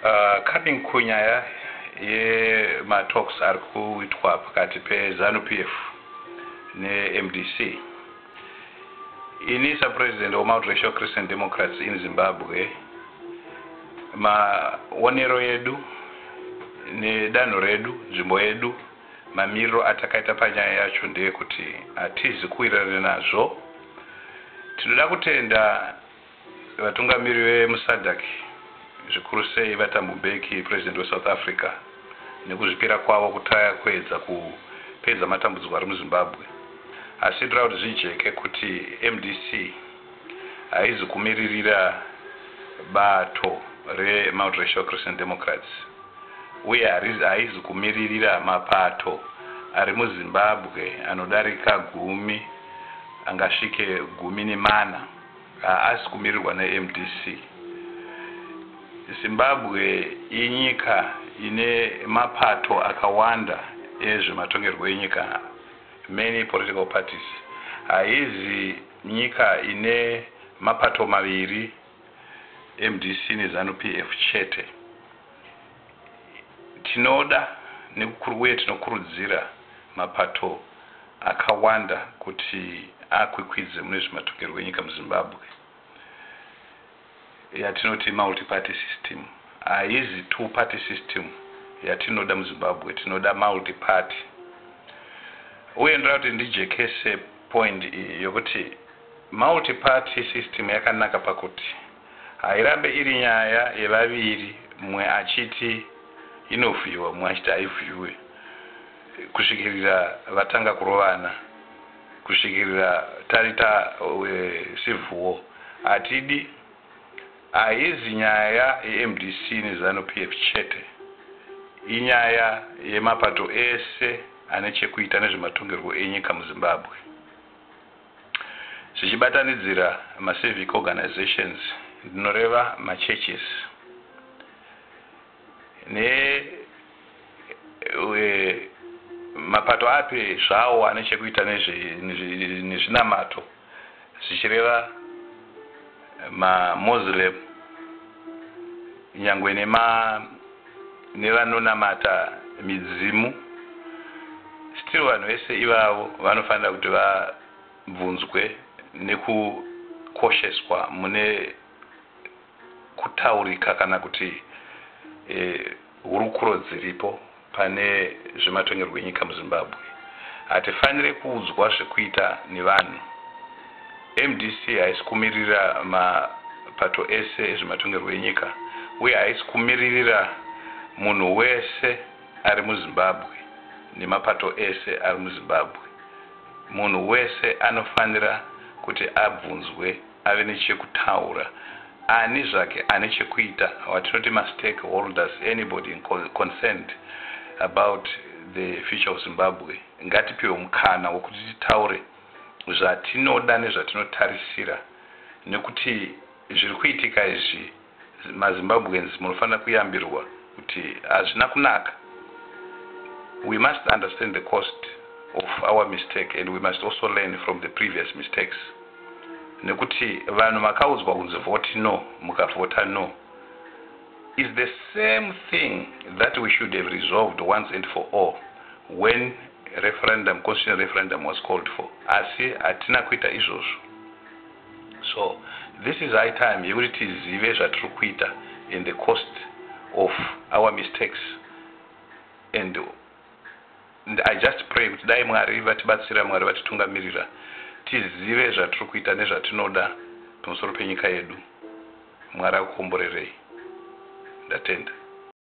Uh, coming kunyaya yematalks ari kuitwa pakati pezanu p f nemdc ini sapresident wemultiracial christian democrats in zimbabwe maonero edu nedanho redu nzvimbo yedu mamiriro atakaita panyaya yacho ndeyekuti hatizi kuwirirana nazvo tinoda kutenda Vatungamiri vemuSADC, zvikuru sei VaThabo Mbeki, President weSouth Africa, nekuzvipira kwavo kutaya kuedza kupedza matambudziko ari muZimbabwe, asi ndoda kuti zvijeke kuti mdc haizi kumiririra bato reMultiracial Christian Democrats uye haizi kumiririra mapato ari muZimbabwe anodarika gumi, angasvike gumi nemana. Haasi kumirirwa neMDC. Zimbabwe inyika ine mapato akawanda ezvematongerwo enyika, many political parties. Haizi nyika ine mapato maviri, MDC neZanu PF chete. Tinoda uye tinokurudzira mapato akawanda kuti akwikwidze mune zvematongerwo enyika muZimbabwe. Yatinoti multi-party system haizi two party system yatinoda muZimbabwe, tinoda multi-party. Uye ndoda kuti ndijekese point iyi yokuti multi-party system yakanaka pakuti. Hairambe iri nyaya yevaviri mumwe achiti inovhiiwa mumwe achiti haivhiiwe kusvikirira vatanga kurovana, kusvikirira tarita wecivil war. Hatidi, haizi nyaya yeMDC neZanu PF chete, inyaya yemapato ese ane chekuita nezvematongerwo enyika muZimbabwe. zvichibatanidzira maCivic organisations, ndinoreva maChurches ne mapato api zvawo ane chekuita nezvinamato, zvichireva. mamoslem nyangwe nevanonamata midzimu still vanhu vese ivavo vanofanira kuti vabvunzwe nekukosheswa mune kutaurika kana kuti eh, Hurukuro dziripo pane zvematongerwo enyika muZimbabwe hatifanire kuudzwa zvekuita nevanhu. Mdc haisi kumiririra mapato ese ezvematongerwo enyika uye haisi kumiririra munhu wese ari muZimbabwe nemapato ese ari muZimbabwe. Munhu wese anofanira kuti abvunzwe. ave nechekutaura ani zvake ane chekuita watinoti mastake holders anybody concerned about the future of Zimbabwe ngatipiwe mukana wekuti titaure zvatinoda nezvatinotarisira nekuti zviri kuitika izvi Ma Zimbabweans munofanira kuyambirwa kuti hazvina kunaka. We must understand the cost of our mistake and we must also learn from the previous mistakes. Nekuti vanhu makaudzwa kunzi vote no mukavhota no is the same thing that we should have resolved once and for all when referendum constitutional referendum was called for asi hatina kuita izvozvo. so this is high time yekuti tizive zvatiri kuita and the cost of our mistakes and i just pray kuti dai mwari vatibatsira mwari vatitungamirira tizive zvatiri kuita nezvatinoda pamusoro penyika yedu mwari akukomborerei ndatenda